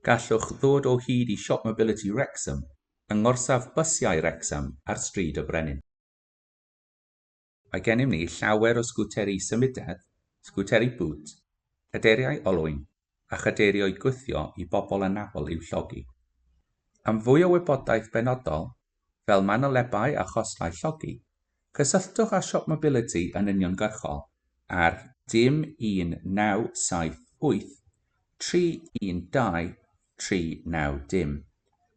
Gallwch ddod o hyd i Siop Mobility Wrexham yng ngorsaf bysiau Wrecsam ar Stryd y Brenin. Mae gennym ni llawer o sgwteri symudedd, sgwteri bŵt, cadeiriau olwyn a chadeirioedd gwthio i bobl anabl i'w llogi. Am fwy o wybodaeth benodol, fel manylebau a chostau llogi, cysylltwch â Siop Mobility yn uniongyrchol ar dim 1978 312 390,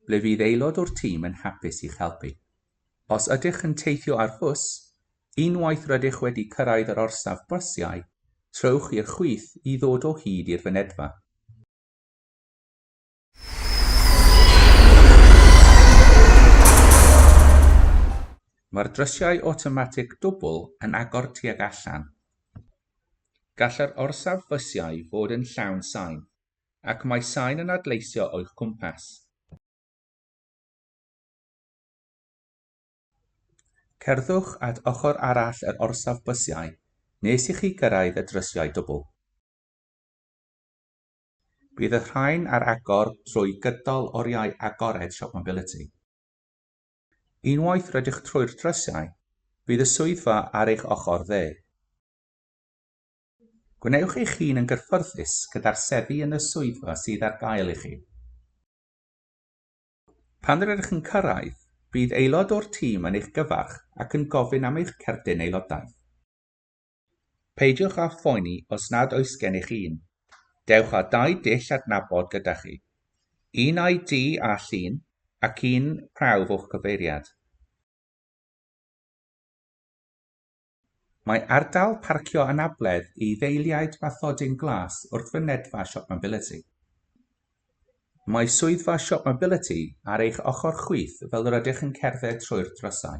ble fydd aelod o'r tîm yn hapus i'ch helpu. Os ydych yn teithio ar fws, unwaith rydych wedi cyrraedd yr orsaf bysiau, trowch i'r chwith i ddod o hyd i'r fynedfa. Mae'r drysiau awtomatig dwbl yn agor tuag allan. Gall yr orsaf fysiau fod yn llawn sain, ac mae sain yn adleisio o'ch cwmpas. Cerddwch at ochr arall yr orsaf bysiau nes i chi gyrraedd y drysiau dwbl. Bydd y rhain ar agor trwy gydol oriau agored Siop Mobility. Unwaith rydych trwy'r drysau, bydd y swyddfa ar eich ochr dde. Gwnewch eich hun yn gyffyrddus gyda'r seddi yn y swyddfa sydd ar gael i chi. Pan rydych yn cyrraedd, bydd aelod o'r tîm yn eich gyfarch ac yn gofyn am eich cerdyn aelodaeth. Peidiwch â phoeni os nad oes gennych un. Dewch â dau dull adnabod gyda chi. Un ID â llun ac un prawf o'ch cyfeiriad. Mae ardal parcio anabledd i ddeiliaid Bathodyn Glas wrth fynedfa Shopmobility. Mae swyddfa Shopmobility ar eich ochr chwith fel yr ydych yn cerdded trwy'r drysau.